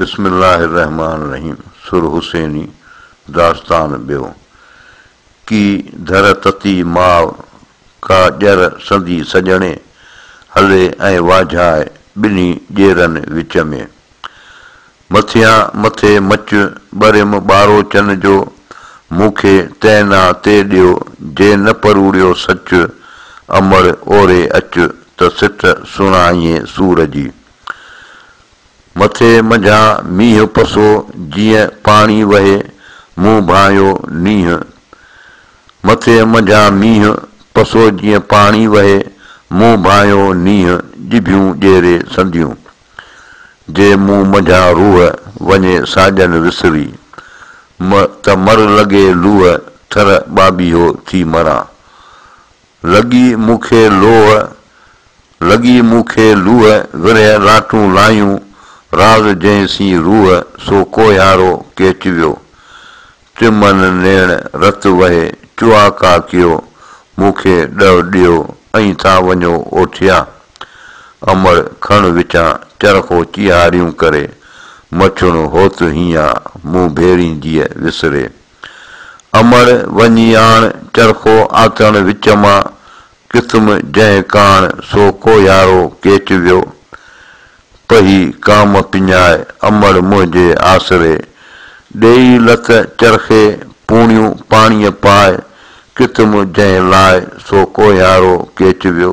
بسم الله الرحمٰن الرحيم سر حسيني داستان ٻيو ڪي ڌر تتي ماء ڪا ڄر سندي سڄڻي هلي ۽ واجهاء ٻنهي ڄيرن وچ ۾. مٿيان مٿي مچ ٻريم ٻارو چن جو مون کي تنهن نا تي ڏيو جي نه پروڙيو سچ امڙ اوري اچ ته سٽ سڻائيين سور جي. مٿي منجهان مينهن پسو جيئن پاڻي وهي مون ڀانئيو نينهن مٿي منجهان مينهن پسو جيئن پاڻي وهي مون ڀانئيو نينهن ڄڀيون ڄيري سنديون جي مون منجهان روح وڃي ساڄن وسري م ته مر لڳي لوهه ٿر ٻاٻيهو ٿي مران لڳي مون کي لوهه، لڳي مون کي لوهه، ورهيه لاٽون لايون، راز جنهن سين روح، سو ڪوهيارو ڪيچ ويو. چمن نيڻ رت وهي، چؤاڪا ڪيو، مون کي ڏهه ڏيو، ائين ٿا وڃو اوٺيا. امڙ کڻ وچان، چرخو چيهاريون ڪري، مڇڻو هوت هينئان، مون ڀيرين جيء وسري. امڙ وڃي آڻ چرخو آتڻ وچ مان قسم جنهن ڪاڻ سو ڪوهيارو ڪيچ ويو پهي ڪام پڃاء امڙ منهنجي آسري ڏيئي لت چرخي پوڻيون پاڻيء پاء قسم جنهن لاء سو ڪوهيارو ڪيچ ويو.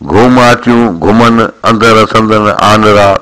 گهوم آتيون گهمن، اندر اسندن آنرا،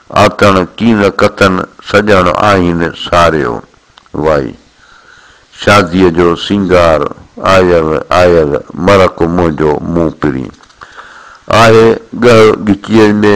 آتڻ ڪين ڪتن، سڄڻ آهين ساريو. وائي. شاديء جو سينگار، آيل آيل مرڪ منهنجو مون پرين. آهي ڳهه ڳچيء ۾،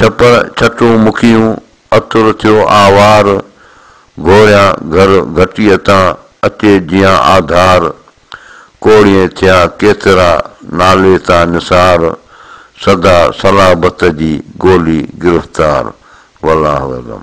ڇپر ڇٽون مکيون، عطر ٿيو آوار، گهوريان گهر گهٽيء تان، اچي جيان آڌار، ڪوڙيئي ٿيا ڪيترا، نالي تان نثار، سدا صلابت جي گولي گرفتار. والله اعلم.